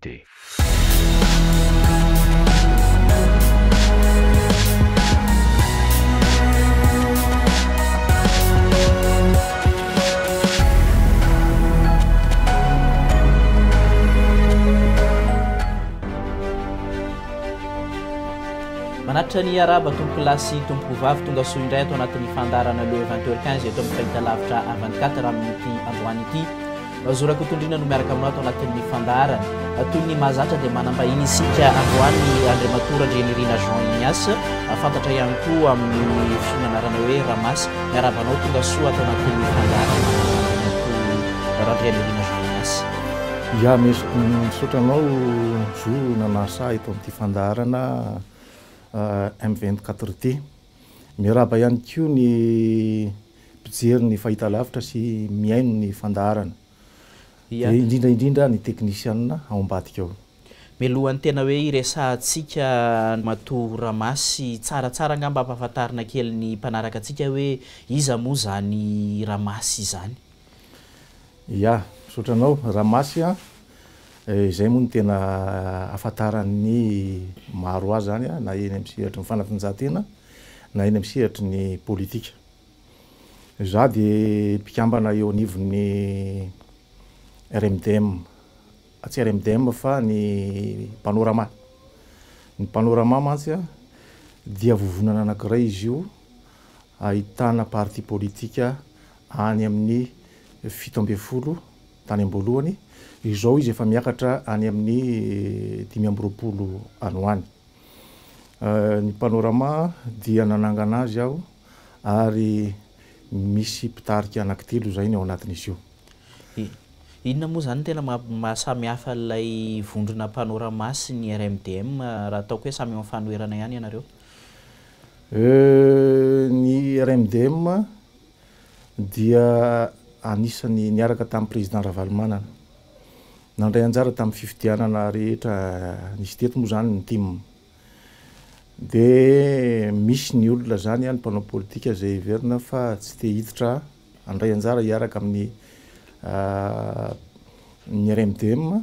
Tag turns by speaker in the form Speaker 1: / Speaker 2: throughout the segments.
Speaker 1: dia.
Speaker 2: Manatitra ny iaraba tompoko lahy sy tompoko vavy tonga soa indray ato anatin'ny fandaharana Le 20h15 eto amin'ny fahitalavitra 24 raha amin'ny ity androany ity. Zo Rakotondriana no miaraka aminao ato anatin'ny fandaharana. Toy ny mahazatra dia manam-bahiny isika androany Andriamatoa Randrianirina Jean Ignace, fantatra ihany koa amin'ny fiomanarana hoe Ramasy. Miarahaba anao, tonga soa ato anatin'ny fandaharana Andriamatoa Randrianirina Jean Ignace.
Speaker 3: Ya, misaotra anao Zo nanasa ahy eto amin'ity fandaharana M24 ity. Miarahaba ihany koa ny. mpijery ny fahitalavitra sy mihaino ny fandaharana, dia indrindra indrindra ny teknisianina ao ambadika ao. Mialohan'ny tena
Speaker 2: hoe hiresahantsika matoa Ramasy, tsaratsara angamba ampahafantarina kely ny mpanaraka antsika hoe iza moa izany Ramasy izany?
Speaker 3: Ia, misaotra anao. Ramasy an, izay moa no tena ahafantaran'ny maro azy izany na eny amin'ny sehatry ny fanatanjahantena, na eny amin'ny sehatry ny politika. Izaho dia mpikambana eo anivon'ny RMDM, tsy RMDM fa ny Panorama. Ny Panorama mantsy dia vovonana anankiray izy io ahitana parti politika any amin'ny fito ambin'ny folo tany am-boalohany, izao izy efa miakatra any amin'ny dimy amby roapolo any ho any. Ny Panorama dia nanangana azy aho ary misy mpitarika anankitelo izay ny ao anatin'izy io.
Speaker 2: Inona moa izany no tena maha-samy hafa ilay vondrona Panorama sy ny RMDM raha ataoko hoe samy eo amin'ny fanoherana ihany ianareo?
Speaker 3: Ny RMDM dia anisan'ny niaraka tamin'ny Président Ravalomanana. Nandray anjara tamin'ny fifidianana rehetra nisy teto moa izany ny tim. Dia misy ny olona izany, ny mpanao politika izay heverina fa tsy te hiditra handray anjara hiaraka amin'ny ny RMDM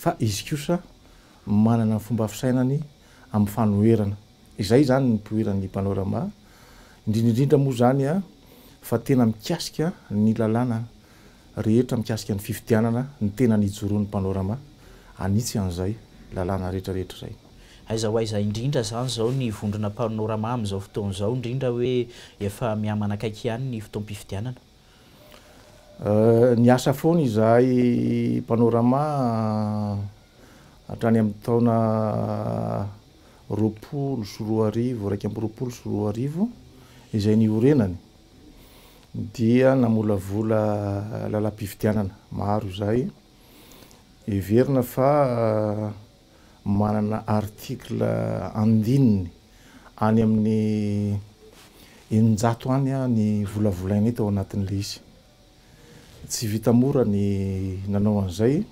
Speaker 3: fa izy kosa manana ny fomba fisainany amin'ny fanoherana. Izay izany ny nipoiran'ny Panorama, indrindra indrindra moa izany fa tena mikasika ny lalàna. rehetra mikasika ny fifidianana ny tena nijoroan'ny Panorama hanitsy an'izay lalàna rehetra rehetra izay. Aiza ho aiza
Speaker 2: indrindra izany izao ny vondrona Panorama amin'izao fotoana izao indrindra hoe efa mihamanakaiky ihany ny fotoam-pifidianana?
Speaker 3: Niasa foana izahay Panorama hatrany amin'ny taona roapolo sy roa arivo, iraika amby roapolo sy roa arivo izay niorenany. dia namolavola lalam-pifidianana maro izay heverina fa manana article andininy any amin'ny eninjato any ny volavolainay tao anatin'ilay izy. Tsy vita mora ny nanao an'izay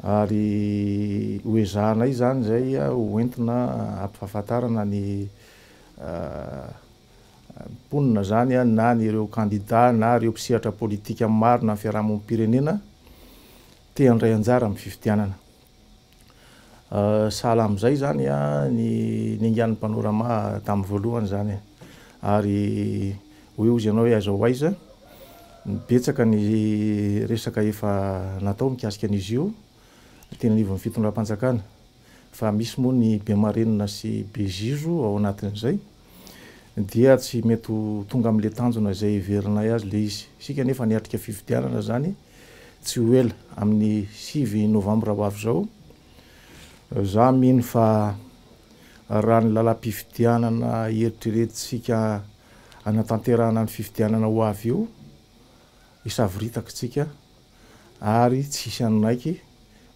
Speaker 3: ary hoezahanay izany izay hoentina hampifahafantarana ny mponina izany na ny ireo kandida na ireo mpisehatra politika amin'ny marina ny fiarahamonim-pirenena te handray anjara amin'ny fifidianana. Sahala amin'izay izany ny niaingan'ny Panorama tamin'ny voalohany izany. Ary hoy hozy ianao hoe aiza ho aiza, betsaka ny resaka efa natao mikasika an'izy io teny anivon'ny fitondram-panjakana. Fa misy moa ny be marenina sy be zizo ao anatin'izay dia tsy mety ho tonga amin'ilay tanjona izay heverinay azy ilay izy. Isika anefa niatrika fifidianana izany tsy ho ela, amin'ny sivy novambra ho avy izao. Izaho mino fa raha ny lalam-pifidianana eritreretintsika hanatanterahana ny fifidianana ho avy io, hisavoritaka isika. ary tsy hisy hanonaiky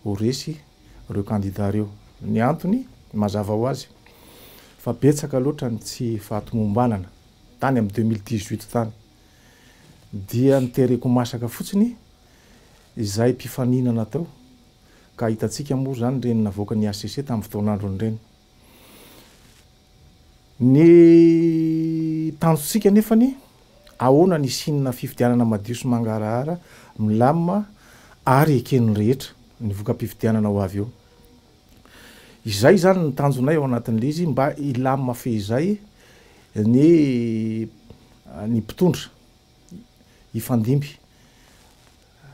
Speaker 3: ho resy ireo kandida ireo. Ny antony, mazava ho azy, fa betsaka loatra ny tsy fahatomombanana tany amin'ny deux mille dix huit tany. Dia nitereko masaka fotsiny izay mpifaninana teo, ka hitantsika moa izany ireny navoakan'ny hcc tamin'ny fotoan'androny ireny. Ny tanjontsika anefany, ahoana ny hisianna fifidianana madio sy mangarahara, milamma ary eken'ny rehetra ny voka-pifidianana ho avy eo. Izay izany ny tanjonay ao anatin'ilay izy mba hilamma fehizay ny ny mpitondra hifandimby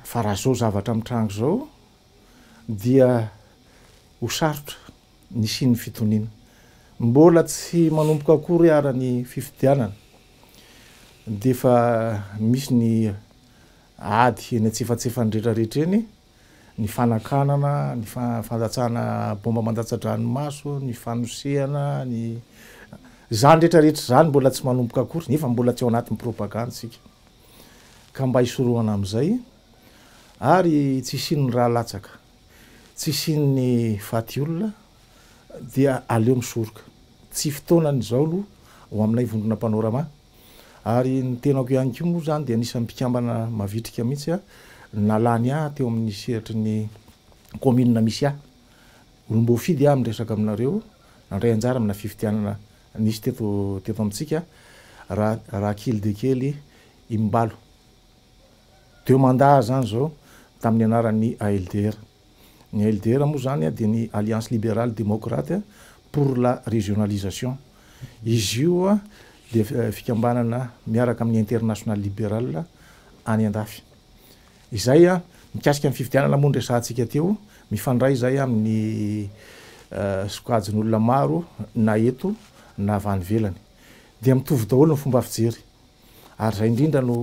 Speaker 3: fa raha izao zavatra mitranga izao, dia ho sarotra ny hisian'ny fitoniana. Mbola tsy manomboka akory ara ny fifidianana dia efa misy ny ady eny antsefatsefany rehetrarehetra eny, ny fanakanana, ny fandatsahana bomba mandatsa-dranomaso, ny fanosehana, ny izany rehetrarehetra izany mbola tsy manomboka akory nefa mbola tsy ao anatin'ny propagandy isika ka mba hisorohana amin'izay. Ary tsy hisian'ny ra latsaka, tsy hisian'ny faty olona, dia aleo misoroka. Tsy fotoanany izao aloha ho aminay vondrona Panorama. Ary ny tenako ihany koa moa izany dia anisan'ny mpikambana mavitrika mihitsy nalany ahy teo amin'ny sehatry ny kaominina misy ahy. Olom-boafidy aho miresaka aminareo, nandray anjara amina fifidianana nisy teto teto amintsika, Ra Ra kely dia kely Imbalo. Deux mandats zany izao tamin'ny anaran'ny ALDR. Ny ALDR moa izany dia ny Alliance Libérale Démocrate pour la Régionalisation. Izy io dia fikambanana miaraka amin'ny International Liberal any andafy. Izay mikasika ny fifidianana moa no resahantsika teo. Mifandray izay amin'ny sokajin'olona maro na eto na avy any ivelany. Dia mitovy daholo ny fomba fijery. Ary izay indrindra no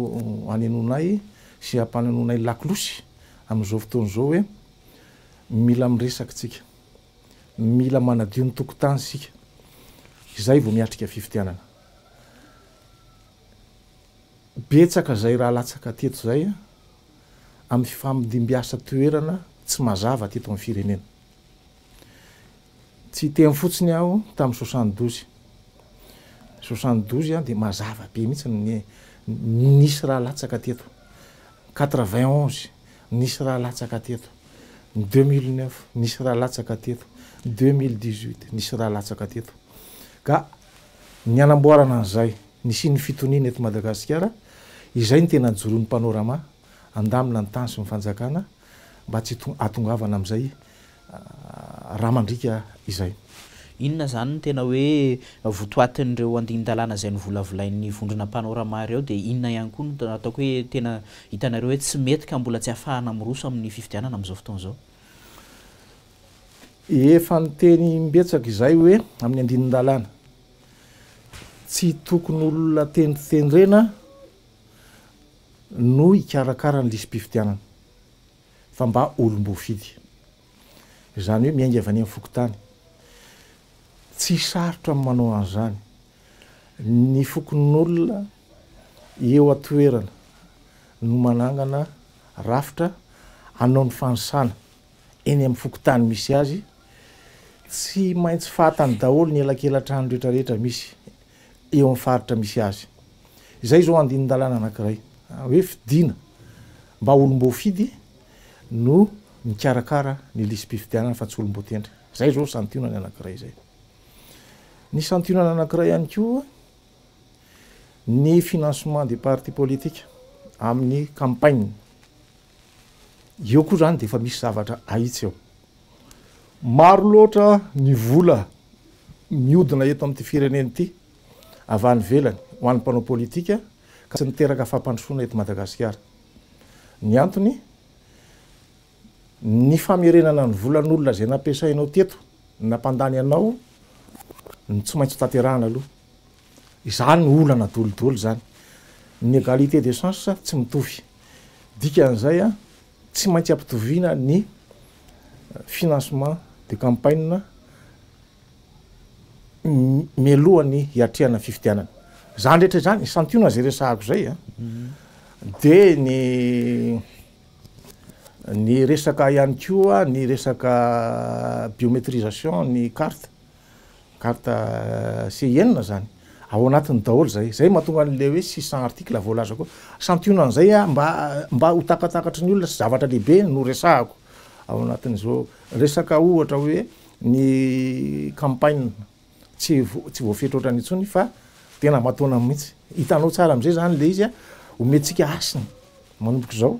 Speaker 3: hanenonay sy hampanononay lakolosy amin'izao fotoana izao hoe mila miresaka isika, mila manadio ny tokontany isika, izay vao miatrika fifidianana. Betsaka izay raha latsaka teto izay amin'ny fifamdim-biasa toerana tsy mazava teto amin'ny firenena. Tsy hiteny fotsiny aho tamin'ny soixante douze. Soixante douze dia mazava be mihitsy ny nisy raha latsaka teto. Quatre vingt onze nisy raha latsaka teto. Deux mille neuf nisy raha latsaka teto. Deux mille dix huit nisy raha latsaka teto. Ka ny hanamboarana an'izay, ny hisian'ny fitoniana eto Madagasikara, izay no tena joroan'ny Panorama handamina ny tany sy ny fanjakana, mba tsy hahatongavana amin'izay rà mandriaka izay. Inona izany
Speaker 2: no tena hoe votoatin'ireo andinin-dalàna izay novolavolain'ny vondrona mpanao rama ireo dia inona ihany koa no ataoko hoe tena hitanareo hoe tsy mety ka mbola tsy hahafahana miroso amin'ny fifidianana amin'izao fotoana izao?
Speaker 3: Efa niteny imbetsaka izahay hoe amin'ny andinin-dalàna tsy tokony olona tendrotendrena no hikarakara ny lisi-pifidianana fa mba olom-boafidy. Izany hoe miainga avy any amin'ny fokontany. Tsy sarotra ny manao an'izany. Ny fokonolona eo an-toerana no manangana rafitra hanao ny fanisana eny amin'ny fokontany misy azy. Tsy maintsy fahatany daholo ny elakelan-trano rehetrarehetra misy. eo amin'ny faritra misy azy. Izay izao andinin-dalàna anankiray hoe fidiana mba olom-boafidy no mikarakara ny lisi-pifidianana fa tsy olom-boatendry. Izay izao santionany anankiray izay. Ny santionana anankiray ihany koa ny financement des partis politiques amin'ny campagne. Eo koa izany dia efa misy zavatra ahitsy eo. Maro loatra ny vola miodina eto amin'ity firenena ity avy any ivelany ho an'ny mpanao politika ka tsy niteraka fampandrosoana eto Madagasikara. Ny antony, ny famerenana ny volan'olona izay nampiasainao teto, nampandany anao no tsy maintsy hotanterahana aloha. Izany no olana daholo daholo izany. Ny égalité de chance tsy mitovy. Dikan'izay, Tsy maintsy ampitoviana ny financement de campagne mialoha ny hiatrehana ny fifidianana. Izany rehetra izany, santionana izay resahako izay a. Dia ny ny resaka ihany koa ny resaka biométrisation ny carte. Carte Ci enina zany ao anatiny daholo zay, zay mahatonga anle hoe six cent articles voalaza koa, santionany zay a mba mba ho takatakatry ny olona sy zavatra lehibe no resahako ao anatin'izao resaka ohatra hoe ny campagne tsy vo tsy voafetra ohatrany intsony fa tena aman-taonany mihitsy, hitanao tsara am'zay zany le izy a omentsika hasiny manomboka izao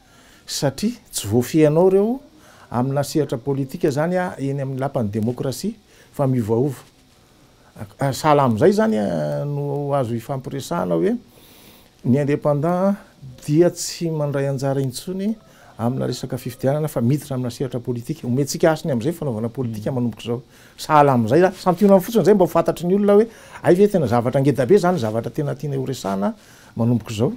Speaker 3: satria tsy voafehinao ireo amina sehatra politika izany eny amin'ny lapan'ny demokrasia fa miovaova. Sahala amin'izay izany no azo ifampiresahana hoe ny indépendant dia tsy mandray anjara intsony amina resaka fifidianana fa miditra amina sehatra politika. Omentsika hasiny amin'izay fanaovana politika manomboka izao. Sahala amin'izay, santionany fotsiny izay mba ho fantatry ny olona hoe hay ve tena zavatra ngeda be izany zavatra tena tianay horesahana manomboka izao.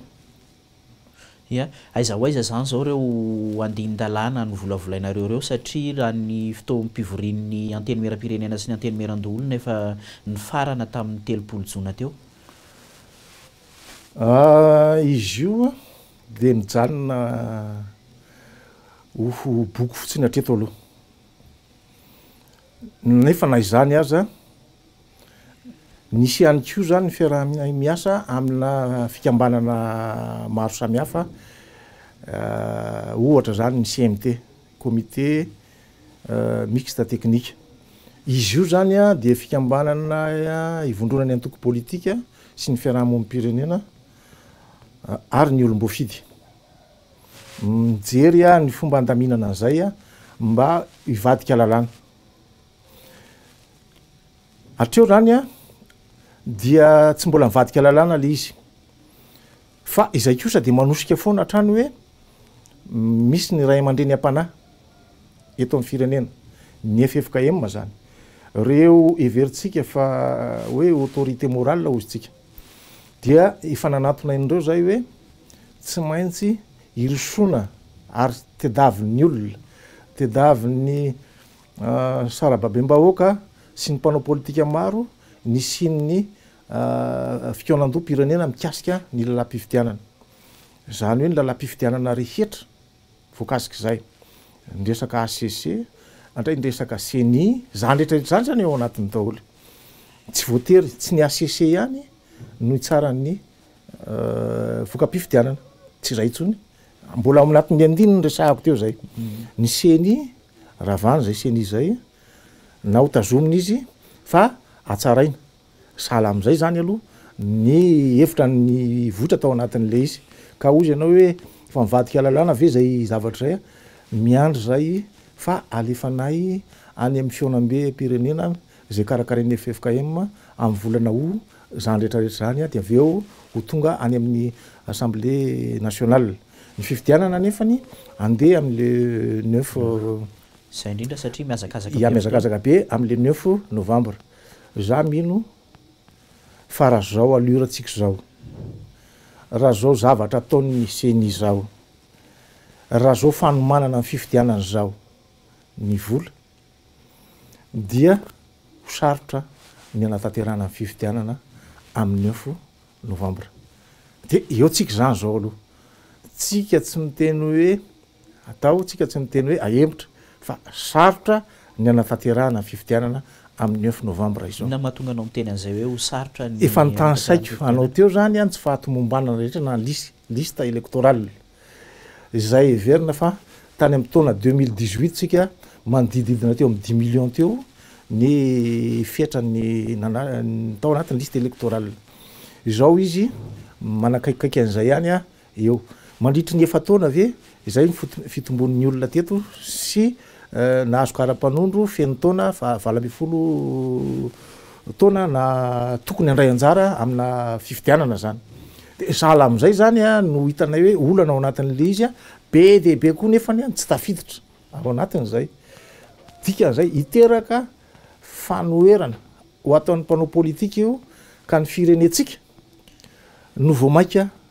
Speaker 2: Ia? Aiza ho aiza izany izao ireo andinin-dalàna novolavolainareo ireo satria raha ny fotoam-pivorian'ny Antenimieram-pirenena sy ny Antenimieran-doholona efa nifarana tamin'ny telopolo jona teo?
Speaker 3: Izy io dia nijanona ho boky fotsiny hatreto aloha. Nefa na izany aza. Nisy ihany koa izany ny fiaraha-miasa amina fikambanana maro samihafa, ohatra izany ny CMT, Comité Mixte Technique. Izy io izany dia fikambanana ivondronan'ny antoko politika sy ny fiarahamonim-pirenena ary ny olom-boafidy. Mijery ny fomba handaminana an'izay mba hivadika lalàna. Hatreo zany a, dia tsy mbola nivadika lalàna le izy. Fa izay kosa dia manosika foana hatrany hoe misy ny ray aman-dreny am-panahy eto amin'ny firenena. Ny ffkm zany. Ireo heverintsika fa hoe autorité morale hozy tsika. Dia efa nanatona an'ireo zay hoe tsy maintsy hirosoana ary tedavy ny olona, tedavy ny Sarababem-bahoaka sy ny mpanao politika maro nisian'ny fikaonandoham-pirenena mikasika ny lalam-pifidianana. Izany hoe ny lalam-pifidianana rehetra voakasik'izay. Ny resaka HCC, andray ny resaka ceni, izany rehetra rehetra izany izany ao anatiny daholo. Tsy voatery, tsy ny HCC ihany no hitsaran'ny voka-pifidianana. Tsy izay intsony. Mbola ao anatin'ny andininy resahako teo izay. Ny ceni Ravana izay ceni izay na ho tazomina izy fa hatsaraina. Sahala amin'izay izany aloha ny hevitra nivoitra tao anatin'ilay izy. Ka hoy izy ianao hoe efa mivadika lalàna ve izay zavatra izay? Miandry izay fa alefanay any amin'ny fihaonambem-pirenena izay karakarain'ny ffkm amin'ny volana aout izany rehetrarehetra izany dia avy eo ho tonga any amin'ny assemblée nationale. Ny fifidianana anefany andeha amin'le neuf. Izay indrindra
Speaker 2: satria mihazakazaka be. Ya mihazakazaka be
Speaker 3: amin'le neuf novembre. Za mino fa raha zao allure tsika zao, raha zao zavatra ataon'ny ceni zao, raha zao fanomanana ny fifidianana zao ny vola dia ho sarotra ny hanatanterahana ny fifidianana amin'ny neuf novambra de eo tsika izany zao aloha tsika tsy miteny hoe atao tsika tsy miteny hoe ahemotra fa sarotra ny anafaterahana ny fifidianana amin'ny neuf novambra izao. Inona mahatonga anao miteny an'izay
Speaker 2: hoe ho sarotra ny anafaterahana ny fifidianana? Efa
Speaker 3: notanisaiko anao teo zany an tsy fahatomombanana rehetra na lisy liste electorale. Izay heverina fa tany amin'ny taona deux mille dix huit tsika manodidididina teo amin'ny dix millions teo ny fetran'ny nana- tao anatin'ny liste électorale. Izao izy manakaikikaiky an'izay ihany eo. Mandritry ny efa-taona ve izay ny foto- fitombon'ny olona teto sy Nahazo kara-panondro feno taona faha valo ambin'ny folo taona na tokony handray anjara amina fifidianana zany de sahala amin'izay zany a no hitanay hoe olana ao anatin'le izy a be dia be koa nefany a ny tsy tafiditra ao anatin'izay dikan'izay hiteraka fanoherana ho ataon'ny mpanao politika io ka ny firenentsika no vao maika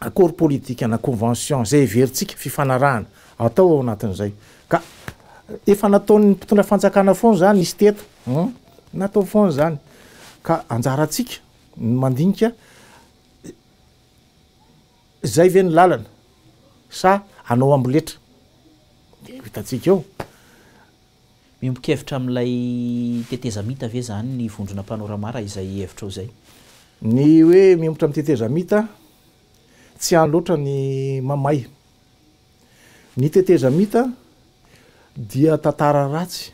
Speaker 3: Accord politique na convention izay heverintsika fifanarahana atao ao anatin'izay ka efa nataon'ny mpitondra fanjakana foana izany izy teto hum natao foana izany ka anjarantsika ny mandinika izay ve ny lalana sa anao amboletra dia ho hitantsika eo. Miombon-kevitra
Speaker 2: amin'ilay tetezamita ve izany ny vondrona Panorama raha izay hevitrao izay? Ny hoe
Speaker 3: miompitra amin'ny tetezamita, tsy any loatra ny mamay. Ny tetezamita dia tantara ratsy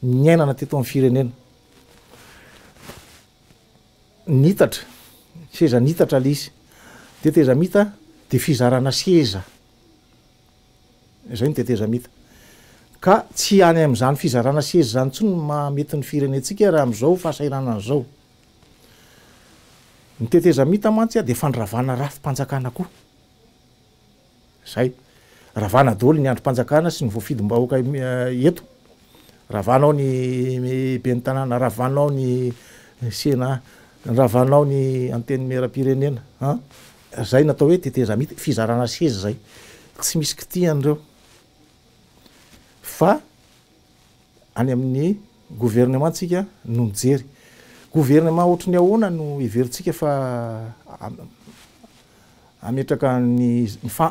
Speaker 3: niainana teto amin'ny firenena. Niitatra, seza niitatra ilay izy. Tetezamita dia fizarana seza. Izay no tetezamita. Ka tsy any amin'izany fizarana seza izany intsony no mahamety ny firenentsika raha amin'izao fahasahiranana izao. Ny tetezamita mantsy dia fandravana rafi-panjakana koa. Izay. Ravana daholo ny andrim-panjakana sy ny voafidim-bahoaka eto. Ravana ao ny ben'ny tanàna, ravana ao ny sena, ravana ao ny antenimieram-pirenena, Zay natao hoe tetezamita, fizarana seza zay, tsy misy kitihany reo fa any amin'ny gouvernement tsika no mijery. Gouvernement ohatry ny ahoana no heverintsika fa hametraka ny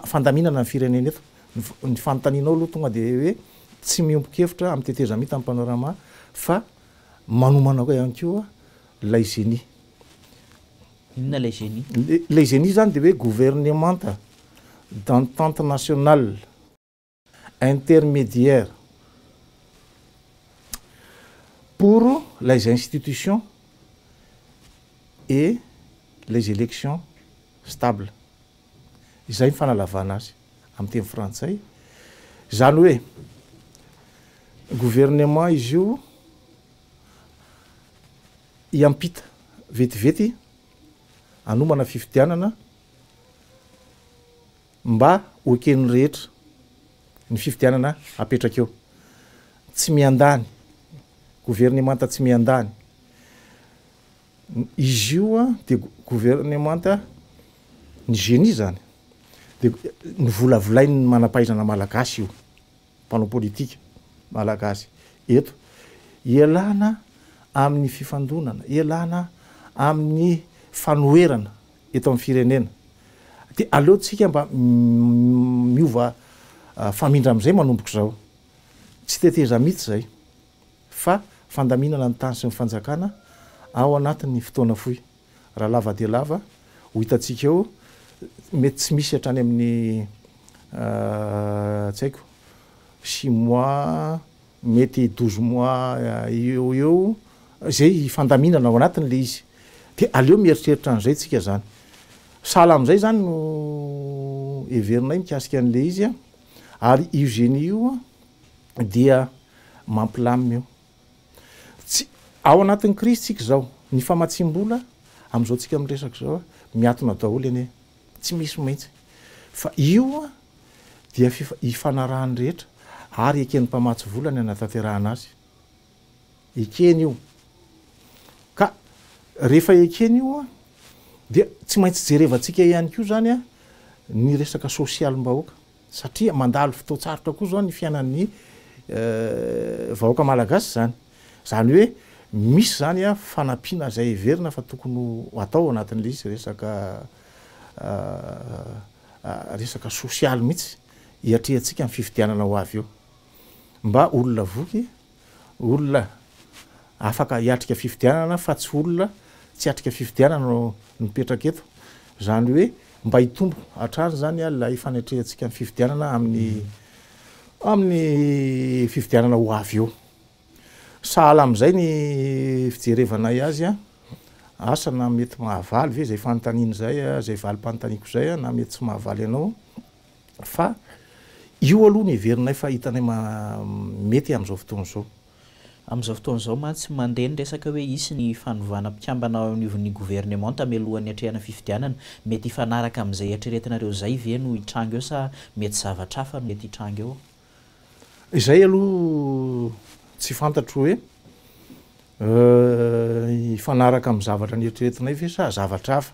Speaker 3: fandaminana ny firenena eto? Ny fanontanianao aloha tonga de hoe tsy miombon-kevitra amin'ny tetezamita ny panorama fa manomana koa ihany koa lay zenia.
Speaker 2: Inona ilay Genie? Ilay Genie izany dia
Speaker 3: hoe gouvernemanta d'entente nationale intermédiaire pour les institutions et les élections stables. Izay ny fanalavana azy amin'ny teny frantsay. Izany hoe gouvernement izy io. hiampita vetivety hanomana fifidianana mba ho eken'ny rehetra ny fifidianana hapetraka eo. Tsy miandany, governemanta tsy miandany. Izy io dia governemanta ny génie izany dia novolavolain'ny manam-pahaizana malagasy io. mpanao politika malagasy eto, ialana amin'ny fifandonana, ialana amin'ny fanoherana eto amin'ny firenena, dia aleontsika mba miova famindra amin'izay manomboka izao. Tsy tetezamita izay fa fandaminana ny tany sy ny fanjakana ao anatin'ny fotoana fohy. Raha lava dia lava, ho hitantsika eo, mety tsy misy hatrany amin'ny tsy haiko, six mois, mety douze mois eo ho eo, izay hifandaminana ao anatiny ilay izy. Dia aleo mieritreritra an'izay tsika izany. Sahala amin'izay izany no heverinay mikasika an'ilay izy. Ary io génie io dia mampilamina io. Tsy, ao anatin'ny krizy tsika izao, ny famatsiam-bola, amin'izao tsika miresaka izao, miatona daholo anie, tsy misy mihitsy. Fa io dia fifa, ifanarahan'ny rehetra, ary eken'ny mpamatsy vola ny hanatanterahana azy. Ekeny io. Ka rehefa ekeny io dia tsy maintsy jerevantsika ihany koa izany ny resaka sosialim-bahoaka. Satria mandalo fotoan-tsarotra koa izao ny fiainan'ny vahoaka malagasy izany. Izany hoe misy izany fanampiana izay heverina fa tokony ho atao ao anatin'ilay izy resaka resaka sosialy mihitsy hiatrehantsika ny fifidianana ho avy eo. Mba olona voky. Olona afaka hiatrika fifidianana fa tsy olona tsy hiatrika fifidianana no mipetraka eto. Izany hoe mba hitombo hatrany izany ilay fanetrehantsika ny fifidianana amin'ny amin'ny fifidianana ho avy eo. Sahala amin'izay ny fijerevanay azy, asa na mety mahavaly ve izay fanontaniana izay, izay valim-panontaniako izay na mety tsy mahavaly anao. Fa io aloha no heverinay fa hitanay mety amin'izao fotoana izao. Amin'izao fotoana
Speaker 2: izao mantsy, mandeha ny resaka hoe hisy ny fanovana mpikambana ao anivon'ny governemanta mialohan'ny hatrehana fifidianana. Mety hifanaraka amin'izay eritreretinareo izay ve no hitranga eo sa mety zavatra hafa no mety hitranga eo?
Speaker 3: Izay aloha tsy fantatro hoe hifanaraka amin'ny zavatra neritreretinay ve sa zavatra hafa.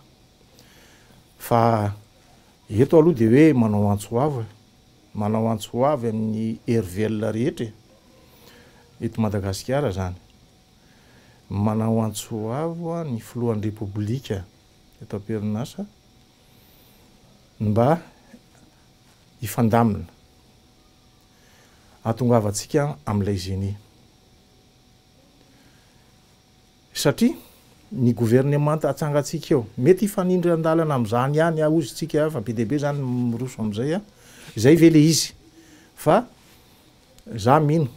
Speaker 3: Fa Eto aloha dia hoe manao antso ho avo e! Manao antso ho avy amin'ny hery velona rehetra e! Eto Madagasikara izany. Manao antso ho avo ny filohan'ny Repoblika eto am-perinasa mba hifandamina. Ahatongavantsika amin'ilay zenia. Satria ny governemanta atsangantsika eo, mety hifanindry an-dalana amin'izany ihany hozy isika fa be dia be izany ny miroso amin'izay an! Izay ve ilay izy? Fa izaho mino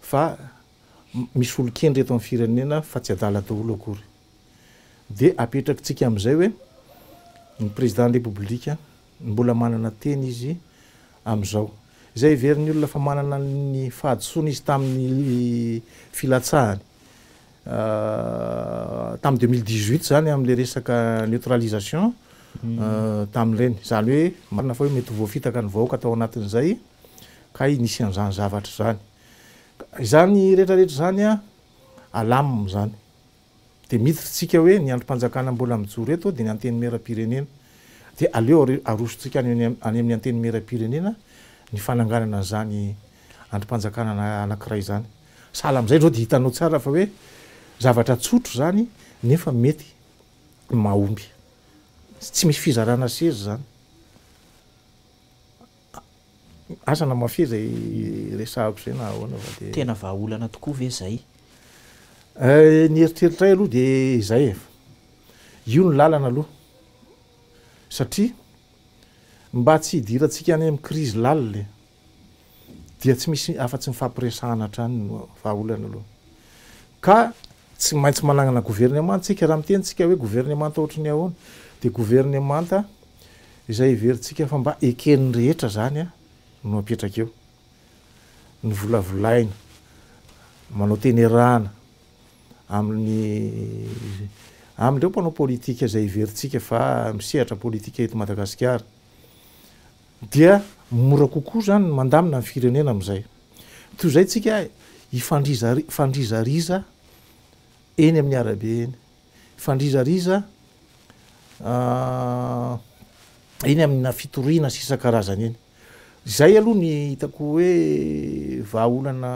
Speaker 3: fa misy olon-kendry eto amin'ny firenena fa tsy adala daholo akory. Dia apetrakitsika amin'izay hoe ny Président de la République, Mbola manana teny izy amin'izao. Izay heverin'ny olona fa manana ny fahadisoana izy tamin'ny filatsahany tamin'ny deux mille dix-huit izany amin'ilay resaka neutralisation tamin'ireny. Izany hoe marina fa hoe mety ho voafitaka ny vahoaka tao anatin'izay kay nisy an'izany zavatra izany. Izany rehetrarehetra izany alam izany. Dia miditra tsika hoe ny andrim-panjakana mbola mijoro eto dia ny Antenimieram-pirenena. Dia aleo arosontsika any amin'ny Antenimieram-pirenena ny fananganana an'izany andrim-panjakana anankiray izany. Sahala amin'izay izao dia hitanao tsara fa hoe zavatra tsotra izany nefa mety mahomby. Tsy misy fizarana seza izany. Aza namafy izay resahako izay na ahoana fa dia. Tena vahaolana tokoa ve
Speaker 2: izay?
Speaker 3: Ny eritreritray aloha dia izay e. Io ny lalana aloha. Satria mba tsy hidirantsika any amin'ny krizy lalina e, dia tsy misy afa-tsy ny fampiresahana hatrany no vahaolana aloha. Ka Tsy maintsy managnana governemanta isika. Raha miteny isika hoe governemanta ohatry ny ahoana? Dia governemanta izay heverintsika fa mba eken'ny rehetra izany no apetraka eo. Ny volavolaina, manao tenerana amin'ny amin'ireo mpanao politika izay heverintsika fa misehatra politika eto Madagasikara. Dia mora kokoa izany ny mandamina ny firenena amin'izay. Toy izay tsika hifandrizariza eny amin'ny arabe eny, hifandrizariza eny amina fitoriana sy isan-karazany eny. Izay aloha ny hitako hoe vahaolana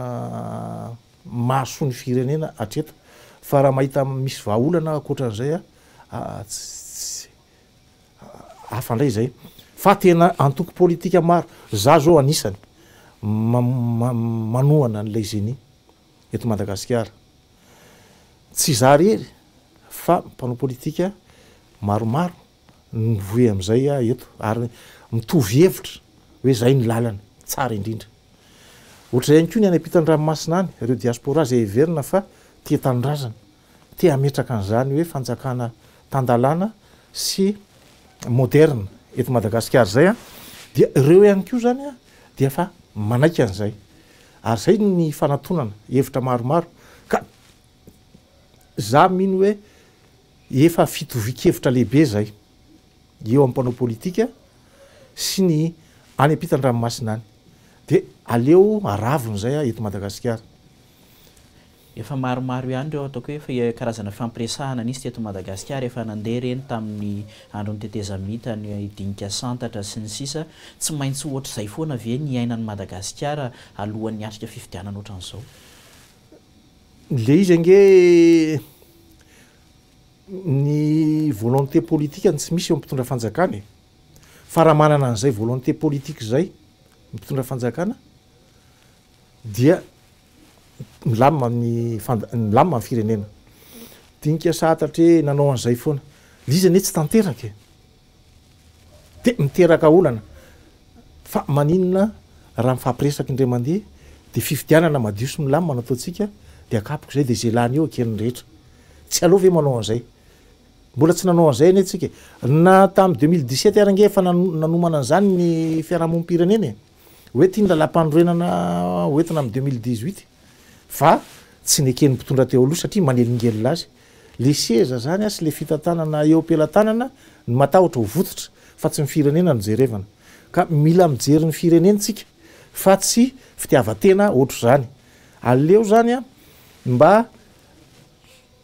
Speaker 3: mahasoa ny firenena hatreto. Fa raha mahita misy vahaolana ankoatra an'izay aho, ah, tsy, tsy. hafa ndray izay fa tena antoko politika maro, za zao anisany manohana an'ilay Zeni eto Madagasikara, tsy za rery fa mpanao politika maromaro mivoy amin'izay aho eto ary mitovy hevitra hoe zay ny lalana tsara indrindra, ohatr'izay ihany koa ny any ampitan'ny ranomasina any, ireo diaspora izay heverina fa tia tanindrazana te hametraka an'izany hoe fanjakana tan-dalàna sy moderina eto Madagasikara izay dia ireo ihany koa izany dia efa manaiky an'izay ary izay no nifanatonana hevitra maromaro ka izaho mino hoe efa fitovian-kevitra lehibe izay eo amin'ny mpanao politika sy ny any am-pitan-dranomasina any dia aleo aravona izay eto Madagasikara.
Speaker 2: Efa maromaro ihany ireo ataoko hoe karazana fampiresahana nisy teto Madagasikara efa nandeha ireny tamin'ny andron'ny tetezamita, ny dinika santatra sy ny sisa Tsy maintsy ohatr'izay foana ve ny iainan'i Madagasikara alohan'ny hiatrika fifidianana ohatran'izao?
Speaker 3: Ilay izy ange ny volonté politique no tsy misy eo amin'ny mpitondra fanjakana e! Fa raha manana an'izay volonté politique izay ny mpitondra fanjakana dia milamina ny fand milamina ny firenena. Dinika sahatratra hoe nanao an'izay foana. Le izy anie tsy tanteraka e. De miteraka olana. Fa maninona raha mifampiresaka indray mandeha de fifidianana madio sy milamina no ataontsika de akapoka izay de izay lany eo eken'ny rehetra. Tsy aleo ve manao an'izay. Mbola tsy nanao an'izay anie tsika. Na tamin'ny deux mille dix sept ary ange efa nanomana an'izany ny fiarahamonim-pirenena e. hoe ity ny lalàmpanorenana hoentina amin'ny deux mille dix huit fa tsy neken'ny mpitondra teo aloha satria manelingelina azy le seza zany sy le fitantanana eo am-pelatanana ny matahotra ho vototra fa tsy ny firenena no jerevana ka mila mijery ny firenena tsika fa tsy fitiavan-tena ohatr'izany aleo zany a mba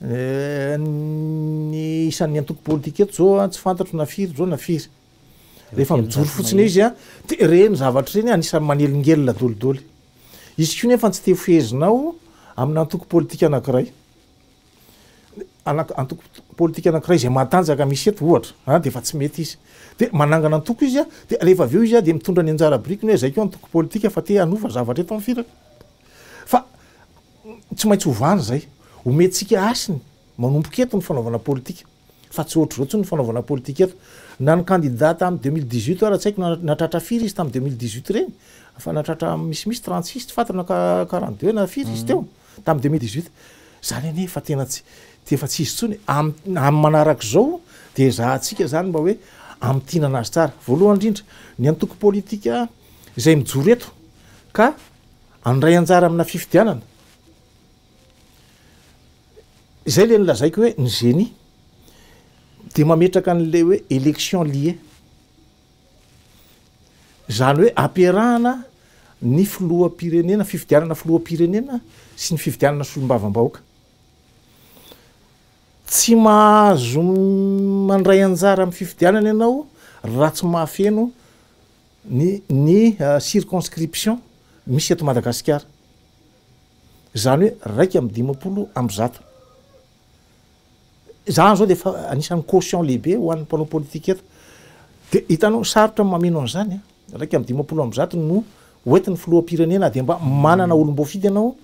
Speaker 3: Ny isan'ny antoko politika eto zao a, tsy fantatro na firy zao na firy. Rehefa mijoro fotsiny izy a, de ireny zavatra ireny anisan'ny manelingelina dolidoly. Izy koa nefa tsy te ho fehezinao amina antoko politika anankiray. Anak- antoko politika anankiray izay matanjaka misy eto ohatra, a de efa tsy mety izy. De manangana antoko izy a, de rehefa avy eo izy a de mitondra ny anjara birikiny hoe zay koa antoko politika fa te hanova zavatra eto amin'ny firaka. Fa Tsy maintsy hovany izay. Omentsika hasiny. Manomboka eto ny fanaovana politika. Fa tsy ohatr'izao intsony ny fanaovana politika eto. Na ny kandida tamin'ny deux mille dix huit ara tsy haiko na natratra firy izy tamin'ny deux mille dix huit ireny. Fa natratra misimisy trente six tsy fantatra na quarante deux na firy izy teo tamin'ny deux mille dix huit. Izany anie efa tena tsy, efa tsy izy intsony. Amin'ny amin'ny manaraka izao dia ezahantsika izany mba hoe hamintinana azy tsara. Voalohany indrindra, ny antoko politika izay mijoro eto ka Handray anjara amina fifidianana. Izay ilay nolazaiko hoe ny génie dia mametraka an'ilay hoe élection liée. Izany hoe ampiarahana ny filoham-pirenena, fifidianana filoham-pirenena sy ny fifidianana solombavambahoaka. Tsy mahazo mandray anjara amin'ny fifidianana ianao raha tsy mahafeno ny ny circonscription misy eto Madagasikara, izany hoe iraika amby dimampolo amby zato. Izaho izao dia efa anisan'ny caution lehibe ho an'ny mpanao politika eto, dia hitanao sarotra ny mameno an'izany an! iraika amby dimampolo amby zato no ho entin'ny filoham-pirenena dia mba manana olom-boafidy ianao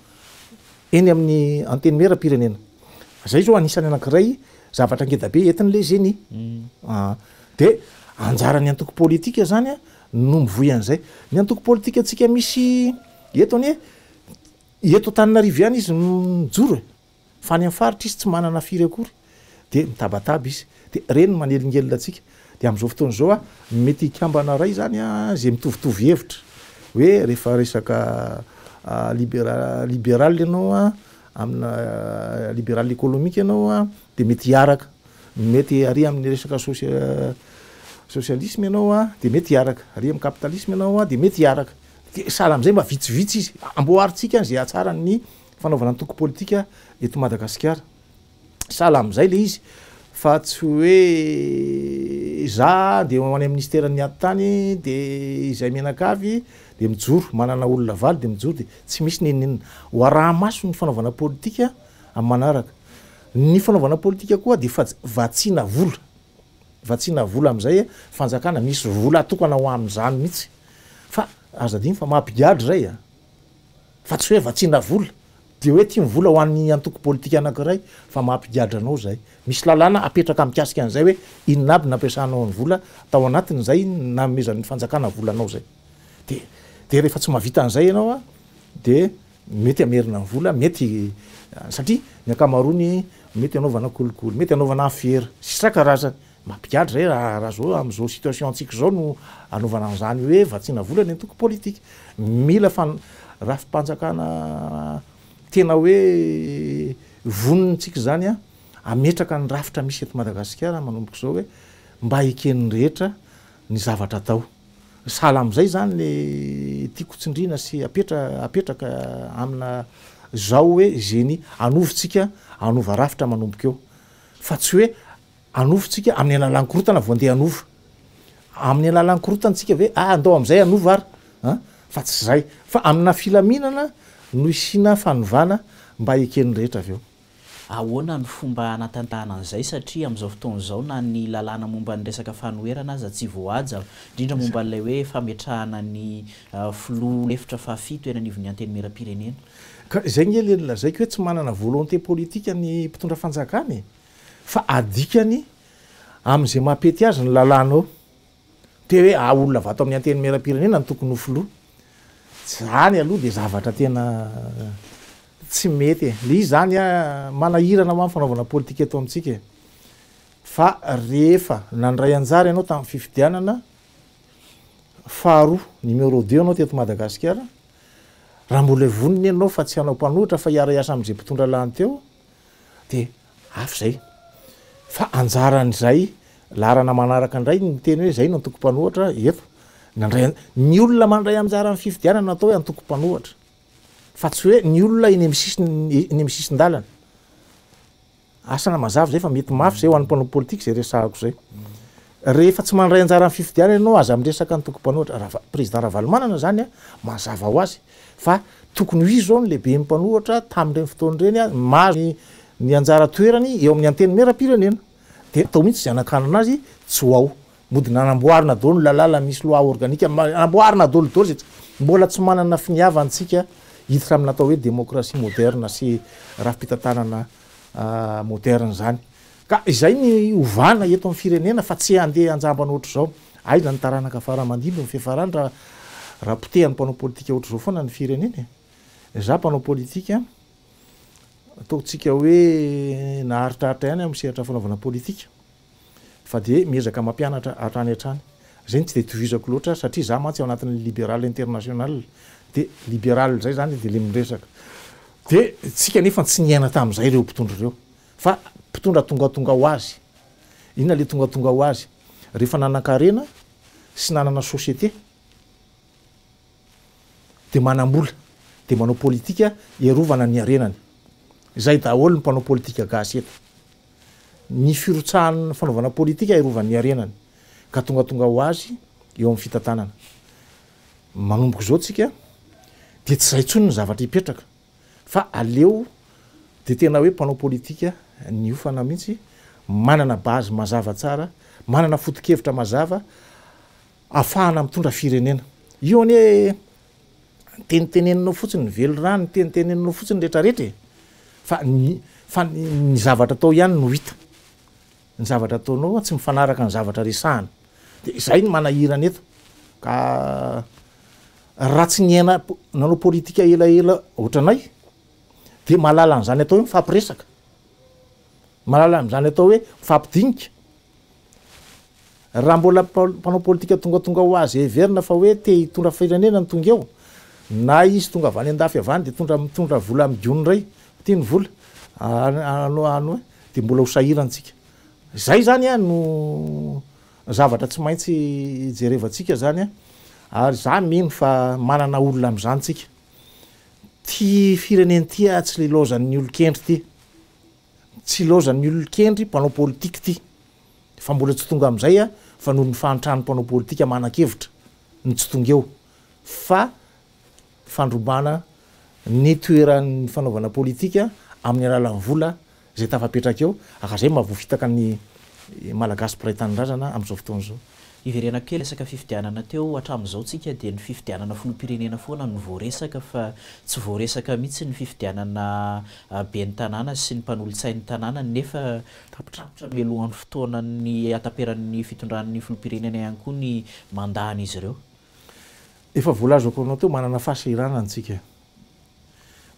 Speaker 3: eny amin'ny antenimieram-pirenena, izay izao anisan'ny anankiray zavatra ngeda be entin'ilay zeni an! Dia anjaran'ny antoko politika izany no mivoy an'izay. Ny antoko politikantsika misy eto anie, eto Antananarivo ihany izy no mijoro e! Fa any amin'ny faritra izy tsy manana firy akory. Dia mitabataba izy. Dia ireny no manelingelina antsika. Dia amin'izao fotoana izao, mety hikambana iray izany izay mitovitovy hevitra. Hoe rehefa resaka libera- liberaly ianao, amina liberaly ekolomika ianao dia mety hiaraka. Mety hiaria amin'ny resaka sosialisma ianao dia mety hiaraka, aria amin'ny kapitalisma ianao dia mety hiaraka. Dia sahala amin'izay mba vitsivitsy izy. Amboarintsika izay hatsara ny fanaovana antoko politika eto Madagasikara. Sahala amin'izay ilay izy fa tsy hoe za dia ho any amin'ny minisiteran'ny ady tany dia izay mianakavy dia mijoro, manana olona valo dia mijoro dia tsy misy n'inon'inona. Ho araha-maso ny fanaovana politika amin'ny manaraka. Ny fanaovana politika koa dia faj, vatsiana vola. Vatsiana vola amin'izay fanjakana, misy vola atokana ho amin'izany mihitsy. Fa aza adino fa mampigadra izay an! Fa tsy hoe vatsiana vola, dia hoe ity ny vola ho an'ny antoko politika anankiray, fa mampigadra anao izay. Misy lalàna apetraka mikasika an'izay hoe inona aby nampiasanao ny vola tao anatin'izay nanomezan'ny fanjakana volanao izay. Dia dia rehefa tsy mahavita an'izay ianao an, dia. Mety hamerina ny vola, mety satria ny ankamaroany mety hanaovana kolikoly, mety hanaovana afera sy sisa karazany. Mampigadra zay raha raha zao am'zao situation antsika zao no anaovana an'zany hoe vatsiana vola ny antoko politika. Mila fan- rafi-panjakana tena hoe vonona tsika zany an hametraka ny rafitra misy eto Madagasikara manomboka zao hoe mba eken'ny rehetra ny zavatra atao. Sahala amin'izay izany le tiako tsindrina sy apetra apetraka amina zao hoe zeny anovo tsika anova rafitra manomboka eo fa tsy hoe anovo tsika amin'ny alalan'ny korotana vao ndeha anova amin'ny alalan'ny korotana tsika ve ah ndao amin'izay anova ary an fa tsy zay fa amina filaminana no isiana fanovana mba eken'ny rehetra avy eo Ahoana
Speaker 2: no fomba hanatantahana an'izay satria amin'izao fotoana izao na ny lalàna momba ny resaka fanoherana aza tsy voahaja, indrindra momba an'ilay hoe fametrahana ny filoha lefitra fahafito eny anivon'ny Antenimierampirenena? Ka izay ange
Speaker 3: ilay nolazaiko hoe tsy manana volonté politique ny mpitondra fanjakana e! Fa adikany amin'izay maha-pety azy ny lalàna eo. Te hoe aho olona avy ato amin'ny Antenimierampirenena no tokony ho filoha. Izany aloha dia zavatra tena tsy mety e. Ilay izy izany manahirana hoan'ny fanaovana politika eto amintsika e. Fa rehefa nandray anjara ianao tamin'ny fifidianana faharoa, numéro deux anao teto Madagasikara, raha mbola vonona ianao fa tsy hanao mpanohitra fa hiara-hiasa amin'izay mpitondra lany teo, de avy zay fa anjaran'izay laharana manaraka indray ny miteny hoe zay no antoko mpanohatra eto nandray ny olona mandray anjara amin'ny fifidianana atao hoe antoko mpanohatra fa tsy hoe ny olona eny amin'ny sisiny eny amin'ny sisin-dalana asana mazava zay fa mety mafy zay ho an'ny mpanao politika zay resahako zay rehefa tsy mandray anjara amin'ny fifidianana ianao aza miresaka antoko mpanohatra raha président Ravalomanana zany a mazava ho azy Fa tokony ho izy izao no lehiben'ny mpanohatra tamin'ireny fotoana ireny ary mahazo ny anjara toerany eo amin'ny Antenimierampirenena. Dia tao mihitsy izay hanakanana azy tsy ho ao. Mody nanamboarina daholo ny lalàna misy loi organique, namboarina daholo daholo izay mbola tsy manana finiavana antsika hiditra amin'ny natao hoe démocratie moderne sy rafi-pitantanana moderne izany. Ka izay ny ovana eto amin'ny firenena fa tsy handeha hanjambana ohatr'izao. Aiza ny taranaka fara aman-dimby ny fiafarany raha raha potehan'ny mpanao politika ohatr'izao foana ny firenena e. Izaho mpanao politika, ataontsika hoe naharitraritra ihany aho amin'ny sehatra fanaovana politika fa dia miezaka mampianatra hatrany hatrany. Izay no tsy dia itovizako loatra satria izaho mantsy ao anatin'ny Liberal International dia Liberal izay izany dia ilay miresaka. Dia isika anefa tsy niaina tamin'izay ireo mpitondra ireo. Fa mpitondra tongatonga ho azy. Inona ilay tongatonga ho azy? Rehefa nanan-karena sy nanana société dia manam-bola, dia manao politika hiarovana ny harenany. Izay daholo ny mpanao politika gasy eto. Ny firotsahan'ny fanaovana politika hiarovany ny harenany. Ka tongatonga ho azy eo amin'ny fitantanana. Manomboka izao tsika dia tsy izay intsony ny zavatra hipetraka. fa aleo de tena hoe mpanao politika niofana mihitsy, manana base mazava tsara, manana fotokevitra mazava afahana mitondra firenena. Io anie teniteneninao fotsiny ny velirano, teniteneninao fotsiny retraretra e! fa ny fa ny zavatra atao ihany no hita. Ny zavatra ataonao tsy mifanaraka ny zavatra resahana. Dia izay no manahirana eto. Ka raha tsy niaina nanao politika elaela ohatranay dia mahalala an'izany atao hoe mifampiresaka. Mahalala an'izany atao hoe mifampidinika. Raha mbola mpanao politika tongatonga ho azy heverina fa hoe te hitondra firenena ny tonga eo, na izy tonga avy any andafy avy any dia tondra mitondra vola amin'ny gony iray, ho tiany vola an dia mbola ho sahirantsika. Izay izany an no zavatra tsy maintsy jerevantsika izany an, ary izaho mino fa manana olona amin'izany tsika. Ity firenena ity an tsy lilaozan'ny olon-kendry ity, tsy ilaozan'ny olon-kendry mpanao politika ity. Fa mbola tsy tonga amin'izay aho fa noho ny fahantran'ny mpanao politika manan-kevitra ny tsy tonga eo fa fandrobana ny toeran'ny fanaovana politika amin'ny alalan'ny vola izay tafapetraka eo, ary izay maha voafitaka ny Malagasy mpiray tanindrazana amin'izao fotoana izao. Hiverenako kely resaka
Speaker 2: fifidianana teo, hatramin'izao tsika dia ny fifidianana filoham-pirenena foana no voaresaka fa tsy voaresaka mihitsy ny fifidianana ben'ny tanàna sy ny mpanolotsain'ny tanàna nefa tampotampotra mialohan'ny fotoanan'ny hataperan'ny fitondran'ny filoham-pirenena ihany koa ny mandat-n'izy ireo. Efa
Speaker 3: voalazako anao teo, manana fahasahiranana tsika.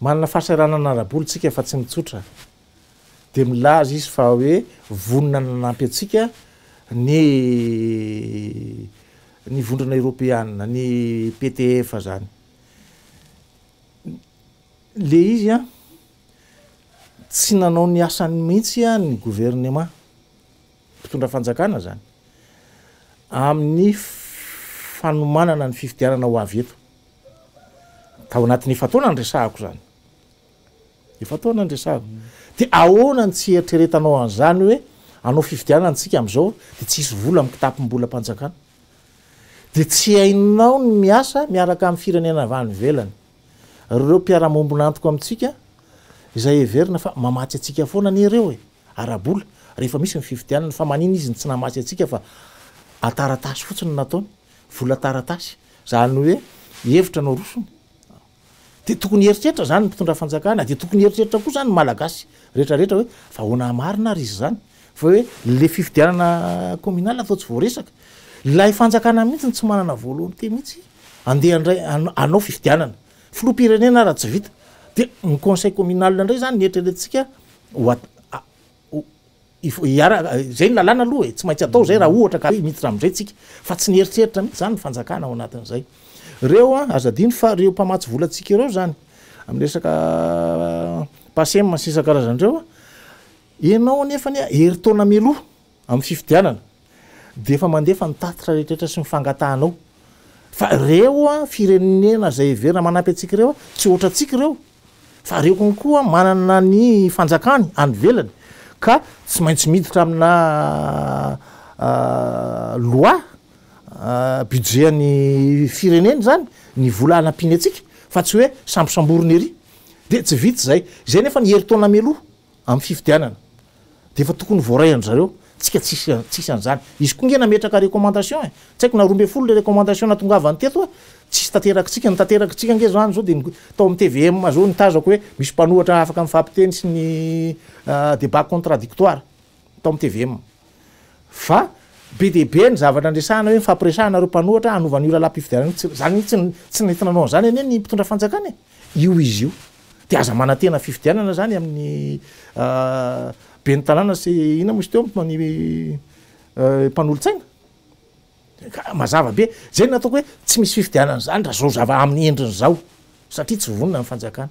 Speaker 3: Manana fahasahiranana ara-bola tsika fa tsy mitsotra. dia milaza izy fa hoe vonona nanampy antsika ny ny vondrana eropeanina ny PTF zany le izy a tsy nanao ny asany mihitsy a ny gouvernement mpitondra fanjakana zany amin'ny fanomanana ny fifidianana ho avy eto tao anatin'ny efa-taona ny resahako zany Efa-taona ny resahako. Dia ahoana ny tsy eritreretanao an'izany hoe hanao fifidianana isika amin'izao dia tsy hisy vola amin'ny kitapom-bolam-panjakana? Dia tsy hainao ny miasa miaraka amin'ny firenena avy any ivelany, ireo mpiara-mombon'antoko amintsika izay heverina fa mamatsy antsika foana anie ireo e! ara-bola, rehefa misy ny fifidianana, fa manina izy ny tsy namatsy antsika fa an-taratasy fotsiny no nataony, vola taratasy, izany hoe hevitra no arosony? Dia tokony hieritreritra izany ny mpitondra fanjakana, dia tokony hieritreritra koa izany ny Malagasy rehetra rehetra hoe fa ahoana hamarina ary izy izany fa hoe ilay fifidianana communal atao tsy voaresaka. Ilay fanjakana mihitsy no tsy manana volonté mihitsy andeha handray hanao fifidianana filoham-pirenena ary tsy vita dia ny conseil communal indray izany no eritreretintsika ho Izay no lalàna aloha e, tsy maintsy atao izay raha ohatra ka miditra amin'izay tsika, fa tsy nieritreritra mihitsy izany ny fanjakana ao anatin'izay. Ireo an, aza adino fa ireo mpamatsy volantsika ireo izany, amin'ny resaka PACEM sy ny isan-karazany ireo an, ianao anefa anie herintaona mialoha amin'ny fifidianana dia efa mandefa ny tatitra rehetrarehetra sy ny fangatahanao, fa ireo an firenena izay heverina manampy antsika ireo an, tsy ohatrantsika ireo, Fa reo kon koa manana ny fanjakany any velany ka tsy maintsy miditra amina loi budget any firenena zany ny vola anapiny atsika fa tsy oe sambosamborina ery de tsy vitsy zay, zay nefa ny heritaona mialoha Amin'ny fifidianana dia efa tokony voaray an-dry zareo, tsika tsisy tsisy an'izany. Izy koa nge nametraka recommandation e! Tsy haiko na roa ambin'ny folo le recommandation natongavany teto e! Tsisy tanterakitsika, ny tanterakitsika nge zany zao dia tao amin'ny tvm zao nitazako hoe misy mpanohatra afaka mifampiteny sy ny débat contradictoire tao amin'ny tvm. Fa be dia be ny zavatra andresahana hoe mifampiresahana ireo mpanohatra hanova an'io lalam-pifidianana io. Izany mihitsy no tsy nety nanao an'izany anie ny mpitondra fanjakana e! Io izy io. Dia aza manantena fifidianana izany amin'ny ben'ny tanàna sy inona moa izy teo ny mpanolotsaina? Ka mazava be. Izay no nataoko hoe tsy misy fifidianana izany raha izao zava amin'ny endriny izao satria tsy vonona ny fanjakana.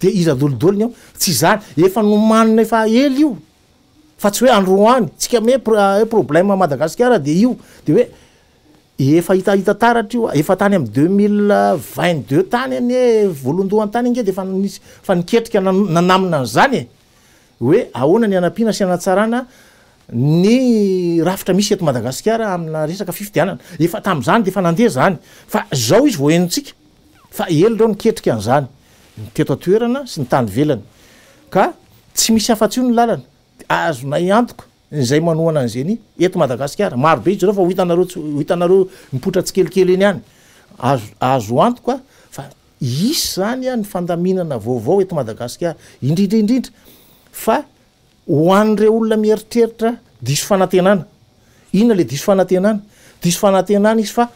Speaker 3: Dia iza adolidoliny ao? Tsy izany, efa nomanina efa ela io, fa tsy hoe androany, tsika me hoe problème à Madagasikara dia io, dia hoe efa hita hita taratra io, efa tany amin'ny deux mille vingt deux tany anie, voalohandohany tany ange dia efa nisy, efa niketrika nanamina an'izany e! hoe ahoana ny hanampiana sy hanatsarana ny rafitra misy eto Madagasikara amina resaka fifidianana. Efa tamin'izany dia efa nandeha izany fa izao izy vao henontsika fa ela ireo niketrika an'izany ny teto an-toerana sy ny tany ivelany ka tsy misy afa-tsy io ny lalana dia azonay antoka Izay manohana ny Zeni eto Madagasikara. Maro be izy ireo fa ho hitanareo tsy ho hitanareo mipoitra tsikelikely eny ihany. Azo azo antoka fa hisy izany ny fandaminana vaovao eto Madagasikara. Indrindra indrindra fa ho an'ireo olona mieritreritra diso fanantenana. Inona ilay diso fanantenana? Diso fanantenana izy fa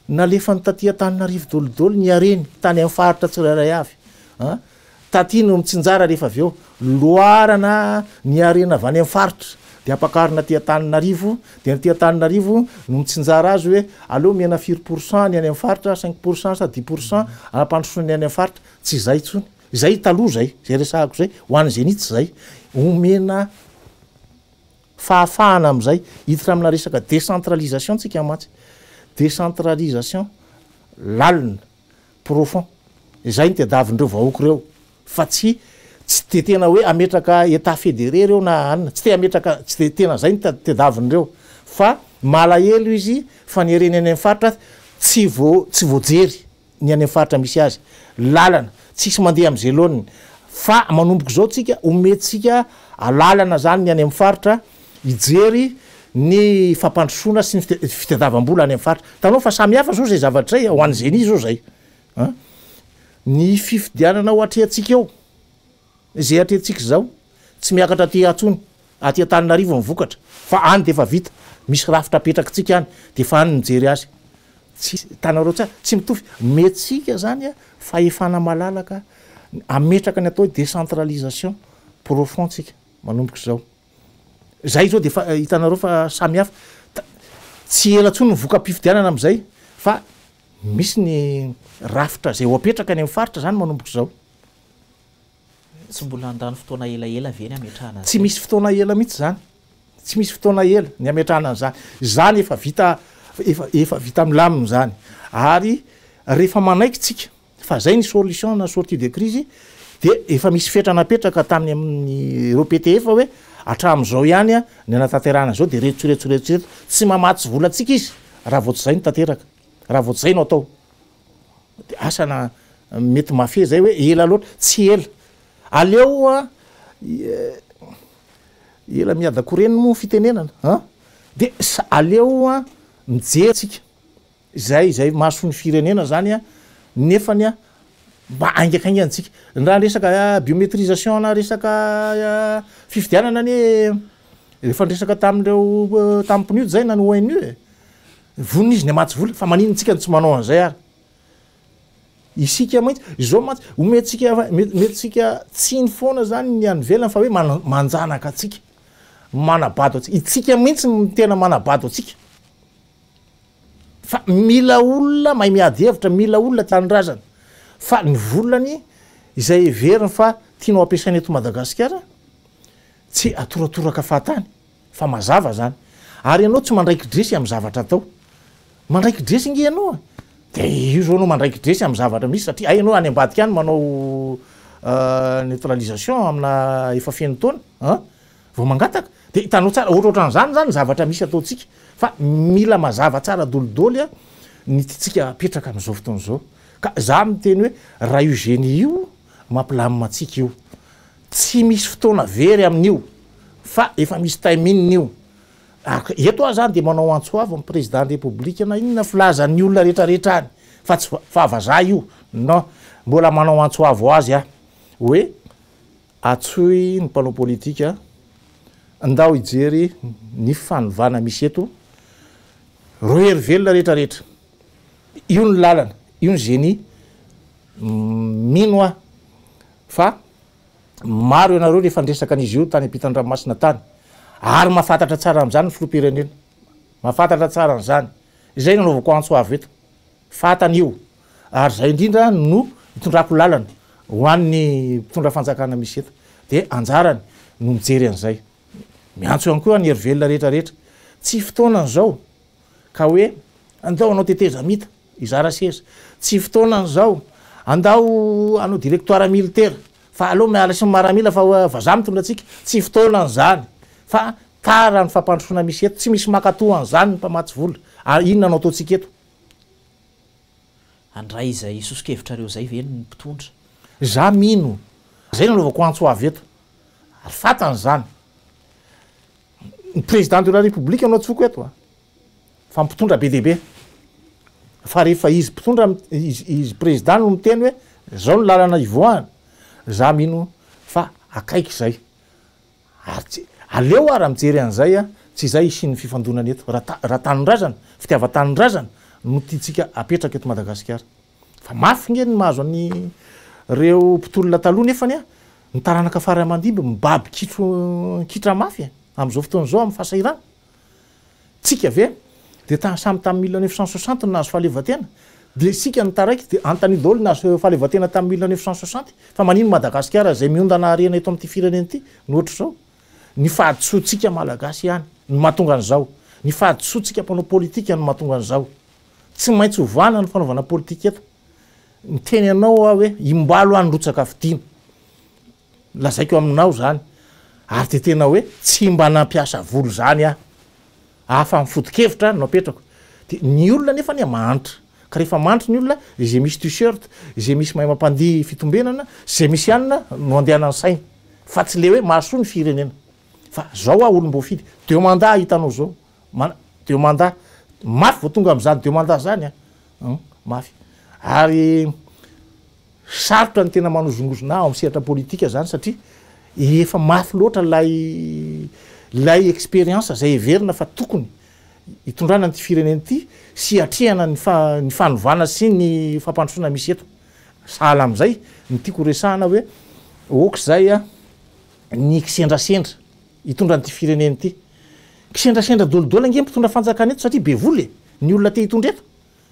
Speaker 3: Nalefany taty Antananarivo dolidoly ny hareny tany amin'ny faritra tsirairay avy. Taty no mitsinjara rehefa avy eo loarana ny harena avy any amin'ny faritra dia ampakarina aty Antananarivo dia ny aty Antananarivo no mitsinjara azy hoe aleo omena firy pourcent ny any amin'ny faritra, cinq pourcent sa dix pourcent hampandrosoana ny any amin'ny faritra. Tsy izay intsony. Izay taloha izay, izay resahako izay ho an'ny Zenith izay. Omena Fahafahana amin'izay hiditra amina resaka décentralisation tsika mantsy. Décentralisation lalina, profond. Izay no tedavindreo vahoaka ireo fa tsy tsy dia tena hoe hametraka état fédéré ireo na anona. Tsy te hametraka tsy dia tena izay no tedavindreo fa malahelo izy fa ny harena eny amin'ny faritra tsy vao tsy voajery. ny any amin'ny faritra misy azy, lalana tsisy mandeha amin'ny zeloniny fa manomboka izao tsika omentsika alalana zany ny any amin'ny faritra hijery ny fampandrosoana sy ny fitadiavam-bola any amin'ny faritra, hitanao fa samy hafa zao zay zavatra zay a, ho an'ny zeni zao zay an, ny fifidianana ho atrehantsika eo. Izay atrehintsika izao tsy miakatra aty atsony, aty Antananarivo ny vokatra fa any dia efa vita, misy rafitra apetrakitsika any dia efa any ny mijery azy. Tsy hitanareo tsara, tsy mitovy. Omentsika izany fahefana malalaka hametraka ny atao hoe décentralisation profond tsika manomboka izao. Izay izao dia efa hitanareo fa samy hafa. Tsy ela intsony ny voka-pifidianana amin'izay fa misy ny rafitra izay ho apetraka any amin'ny faritra izany manomboka izao.
Speaker 2: Tsy mbola handany fotoana elaela ve ny hametrahana an'izay? Tsy misy fotoana ela
Speaker 3: mihitsy izany. Tsy misy fotoana ela ny hametrahana an'izany. Izany efa vita, efa, efa vita milamina izany. Ary rehefa manaiky tsika fa izay ny solution na sortie de crise, dia efa misy fetra napetraka tamin'ny amin'ny ireo PTF hoe hatramin'izao ihany ny hanatanterahana izao dia ireto sy ireto sy ireto sy ireto. Tsy mamatsy volantsika izy raha vao tsy izay no tanteraka, raha vao tsy izay no atao. Dia asa na mety mafia izay hoe ela loatra. Tsy ela. Aleo ela miadako reny moa fitenenana an! Dia aleo mijery tsika izay izay mason'ny firenena izany an! Nefany an! Mba haingakaingana tsika. Raha resaka biometrisation na resaka fifidianana anie efa niresaka tamin'ireo tamin'ny PNUD izay na ny ONU e! Vonona izy ny hamatsy vola fa maninona tsika no tsy manao an'izay ary? Isika mantsy, izao mantsy, omentsika, omentsika tsiny foana izany ny any ivelany fa hoe manjanaka antsika, manabado antsika. Itsika mihitsy no tena manabado antsika. Fa mila olona mahay miady hevitra, mila olona tanindrazana. Fa ny volany izay heveriny fa tianao ampiasaina eto Madagasikara, tsy atoratoraka fahatany. Fa mazava zany. Ary ianao tsy mandraiki-dresy amin'ny zavatra atao. Mandraiki-dresy nge ianao a! Dia io izao ianao mandraiki-dresy amin'ny zavatra misy satria hay ianao any ambadika any manao neutralisation amina efa feno taona an! vao mangataka. Dia hitanao tsara, ohatrohatran'izany izany ny zavatra misy ataontsika. Fa mila mazava tsara dolidoly an! ny tiantsika hapetraka amin'izao fotoana izao. Ka izaho miteny hoe raha io génie io mampilamina antsika io. Tsy misy fotoana very amin'io fa efa misy timing-ny io. Ary eto aho izany dia manao antso avo amin'ny Président ny République na inona filazan'ny olona rehetrarehetra any fa tsy fahavazaha io non. Mbola manao antso avo azy aho hoe antsoy ny mpanao politika ndao hijery ny fanovana misy eto rohery velona rehetrarehetra. Io ny lalana, io ny génie. Mino aho fa maro ianareo no efa niresaka an'izy io tany am-pitan-dranomasina tany, ary mahafantatra tsara an'izany ny filoham-pirenena. Mahafantatra tsara an'izany. Izay no anaovako antso avo eto. Fantany io. Ary izay indrindra no itondrako lalana ho an'ny mpitondra fanjakana misy eto. Dia anjarany no mijery an'izay. Miantso ihany koa ny hery velona rehetra rehetra. Tsy fotoanany izao. ka hoe andao hanao tetezamita hizara seza. Tsy fotoanany izao. Andao hanao directoire militaire fa aleo miala sy ny maramila fa vazaha mitondra antsika. Tsy fotoanany izany fa tara ny fampandrosoana misy eto. Tsy misy mankatoa an'izany ny mpamatsy vola. Inona no ataontsika eto?
Speaker 2: Handray izay soso-kevitrareo izay ve ny mpitondra? Izaho mino.
Speaker 3: Izay no anaovako antso avy eto. Ary fantany izany. Ny président de la république no antsoko eto a, fa mpitondra be dia be, fa rehefa izy mpitondra izy président no miteny hoe zao ny lalana hivoahana, za mino fa akaiky zay, ary tsy, aleo ara mijery an'izay a, tsy izay hisian'ny fifandonana eto, raha raha tanindrazana, fitiavan-tanindrazana no tiantsika apetraka eto Madagasikara. Fa mafy nge ny mahazo an' ireo mpitolona taloha nefany an, ny taranaka fara aman-dimby mibaby kitro an-kitra mafy e! Amin' izao fotoana izao amin'ny fahasahirana. Tsika ve dia ta samy tamin'ny mille neuf cent soixante no nahazo fahaleovantena? Dia isika no taraiky dia hanontaniana daholo ny nahazo fahaleovantena tamin'ny mille neuf cent soixante? Fa manino Madagasikara izay miondana harena eto amin'ity firenena ity no ohatr'izao? Ny fahadisoantsika Malagasy ihany no mahatonga an'izao. Ny fahadisoantsika mpanao politika no mahatonga an'izao. Tsy maintsy hovana ny fanaovana politika eto. Niteny anao aho hoe imbalo any rotsaka fidiana. Lazaiko aminao zany. Ary de tena hoe tsy mba nampiasa volo zany aho. Afa ny foto-kevitra no apetrako. De ny olona nefa anie mahantra. Ka rehefa mahantra ny olona, izay misy t-shirt, izay misy mahay mampandihy fitombenana, izay misy hanina no andehanan'ny sainy. Fa tsy le hoe mahasoa ny firenena. Fa zao aho olom-boafidy. Deux mandats hitanao zao. Mana, deux mandats. Mafy vao tonga amin'izany deux mandats izany an! Hum, mafy. Ary sarotra ny tena manozongozona ao amin'ny sehatra politika izany satria efa mafy loatra ilay ilay expérience izay heverina fa tokony hitondrana an'ity firenena ity sy hiatrehana ny fa, ny fanovana sy ny fampandrosoana misy eto. Sahala amin'izay ny tiako horesahana hoe aoka izay an, ny kisendrasendra. Hitondra an'ity firenena ity. Kisendrasendra dolidoly ange ny mpitondra fanjakana eto satria be vola e! Ny olona te hitondra eto.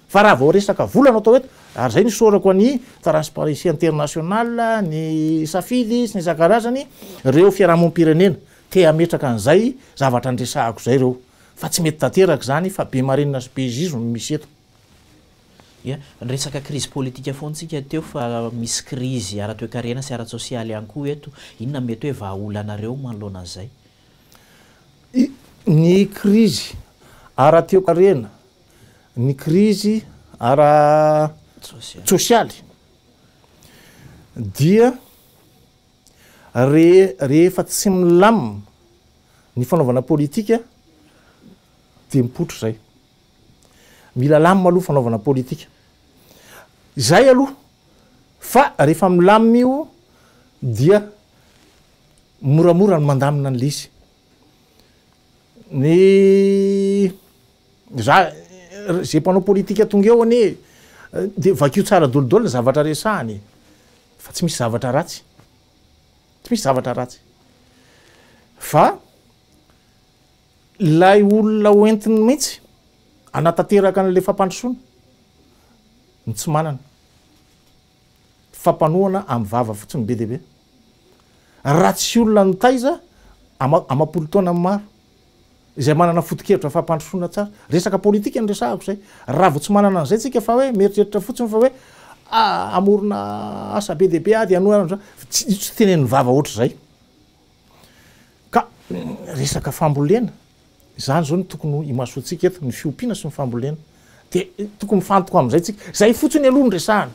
Speaker 3: Fa raha vao resaka vola no atao eto, ary izay no isaorako an'i Transparency International, ny Safily sy ny isan-karazany, ireo fiarahamonim-pirenena te hametraka an'izay zavatra niresahako izay ireo. Fa tsy mety tanteraka izany fa be marenina sy be zizo no misy eto. Ia? Niresaka
Speaker 2: krizy politika foana tsika teo fa misy krizy ara-toekarena sy ara-tsosialy ihany koa eto. Inona no mety hoe vahaolanareo manoloana an'izay?
Speaker 3: Ny krizy ara-toekarena, ny krizy ara-tsosialy dia rehefa tsy milamina ny fanaovana politika dia mipoitra izay. Mila lamina aloha fanaovana politika. Izay aloha. Fa rehefa milamina io dia moramora ny mandamina an'ilay izy. Ny za izay mpanao politika tonga eo anie dia vakio tsara dolidoly ny zavatra resahana e. Fa tsy misy zavatra ratsy. Tsy misy zavatra ratsy. Fa Ilay olona hoentiny mihitsy hanatanteraka an'ilay fampandrosoana no tsy manana. Fampanohana amin'ny vava fotsiny be dia be. Raha tsy olona nitaiza amam-polo taona maro, izay manana foto-kevitra fampandrosoana tsara. Resaka politika no resahako izay. Raha vao tsy manana an'izay tsika fa hoe mieritreritra fotsiny fa hoe ah, hamorona asa be dia be aho dia hanohana an'izao. Tsy tenen'ny vava ohatr'izay. Ka resaka fambolena, izany izao no tokony ho imasoantsika eto, ny fiompiana sy ny fambolena. Dia tokony mifantoka amin'izay tsika. Izay fotsiny aloha no resahana.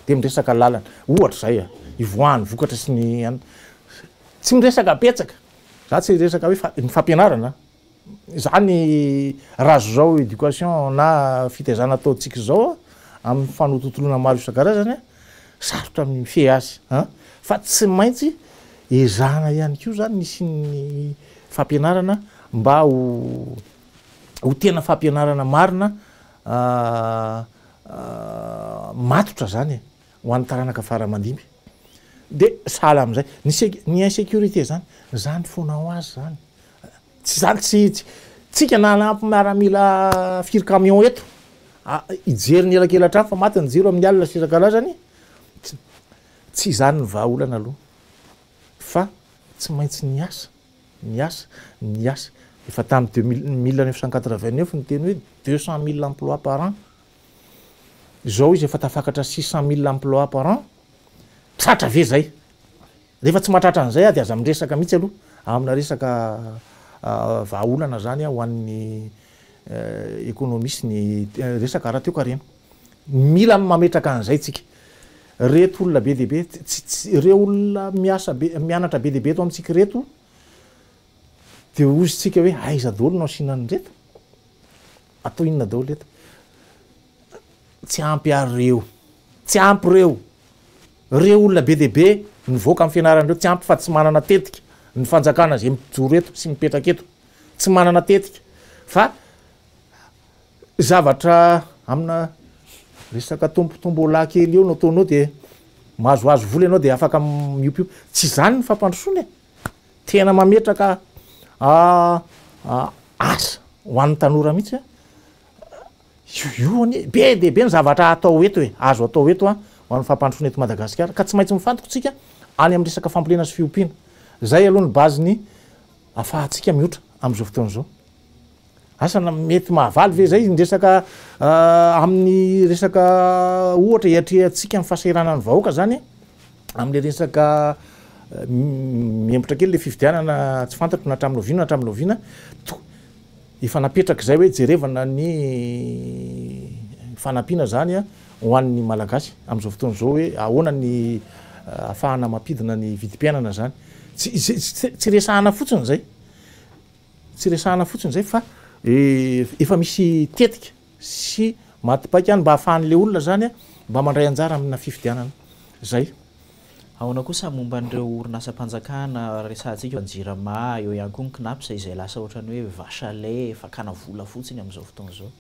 Speaker 3: Dia miresaka lalana. Ohatra izay, ivoahan'ny vokatra sy ny, tsy miresaka betsaka. Za tsy hiresaka hoe fa, ny fampianarana. Izany raso izao éducation na fitaizana ataontsika izao amin'ny fanotontoloana maro isan-karazany, sarotra ny mifehy azy an! Fa tsy maintsy ezahana ihany koa izany ny hisian'ny fampianarana mba ho ho tena fampianarana marina matotra izany e! Ho an'ny taranaka fara aman-dimy dia sahala amin'izay. Ny sec, ny insécurité izany, izany foana ho azy izany. Tsy izany, tsy, tsy, tsika na hanampy miaramila firy camion eto, a, hijery ny elakelan-trano fa maty ny jiro amin'ny alina sy isan-karazany, tsy, tsy izany ny vahaolana aloha. Fa tsy maintsy ny asa, ny asa, ny asa. Efa tamin'ny deux mille, mille neuf cent quatre-vingt-neuf ny teny hoe deux cent mille emplois par an, Izao izy efa tafakatra six cent mille emplois par an, tratra ve zay? Rehefa tsy mahatratra an'izay aho dia aza miresaka mihitsy aloha amina resaka vahaolana zany ho an'ny economie sy ny resaka ara-toekarena. Mila mametraka an'izay tsika. Reto olona be dia be, ireo olona miasa be, mianatra be dia be eto amintsika ireto dia hozy tsika hoe aiza daholo no asiana an'ireto? Atao inona daholo eto? Tsy ampy ary reo. Tsy ampy reo. Reo olona be dia be nivoaka amin'ny fianarana reo tsy ampy fa tsy manana tetika ny fanjakana izay mijoro eto sy mipetraka eto. Tsy manana tetika fa zavatra amina resaka tombo tombola kely eo no ataonao dia mahazoazo vola ianao dia afaka miompiompy. Tsy izany ny fampandrosoana e. Tena mametraka asa ho an'ny tanora mihitsy a! Io anie be dia be ny zavatra atao eto e, azo atao eto a, ho an'ny fampandrosoana eto Madagasikara ka tsy maintsy mifantoka isika any amin'ny resaka fambolena sy fiompiana. Izay aloha ny base-ny ahafahantsika mihoatra amin'izao fotoana izao. Asa na mety mahavaly ve izay ny resaka amin'ny resaka ohatra iatrehantsika ny fahasahiranan'ny vahoaka zany amin'ilay resaka mihemotra kely le fifidianana tsy fantatro na hatramin'ny oviana na hatramin'ny oviana to- efa napetraka izay hoe jerevana ny fanampiana zany a ho an'ny malagasy amin'izao fotoana izao hoe ahoana ny ahafahana mampidina ny vidim-piainana zany tsy tsy resahana fotsiny izay Tsy resahana fotsiny izay fa efa misy tetika sy maty paika any mba hahafahan'ilay olona izany mba mandray anjara amina fifidianana izay. Ahoana
Speaker 2: kosa momba an'ireo orinasam-panjakana resahantsika, ny Jirama, eo ihany koa ny Cnaps izay lasa ohatran'ny hoe vache à lait, fakana vola fotsiny amin'izao fotoana izao?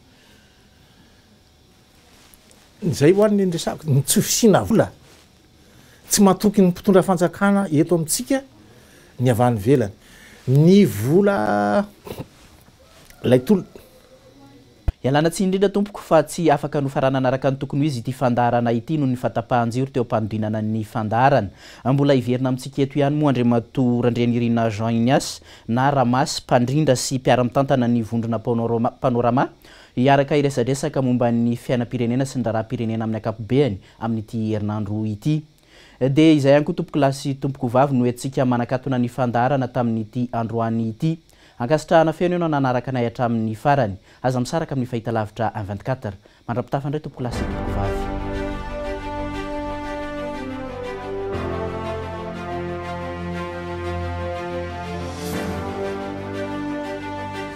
Speaker 3: Izay ho'a ny resahako, ny tsy fisiana vola. Tsy matoky ny mpitondra fanjakana eto amintsika ny avy any ivelany. Ny vola ilay tolona.
Speaker 2: Ialana tsiny indrindra tompoko fa tsy afaka nofaranana araka ny tokony ho izy ity fandaharana ity noho ny fahatapahan-jiro teo am-panodinana ny fandaharana. Mbola hiverina amintsika eto ihany moa Andriamatoa Randrianirina Jean Ignace na Ramasy, mpandrindra sy mpiara-mitantana ny vondrona Panorama, Hiaraka hiresadresaka momba ny fiainam-pirenena sy ny raharaham-pirenena amin'ny ankapobeany amin'ity herinandro ity. Dia izay ihany koa tompokolahy sy tompokovavy no entintsika manakatona ny fandaharana tamin'ity androany ity. Ankasitrahana feno ianao nanaraka anay hatramin'ny farany. Aza misaraka amin'ny fahitalavitra un vingt quatre. Mandra-pitafa indray tompokolahy sy tompokovavy.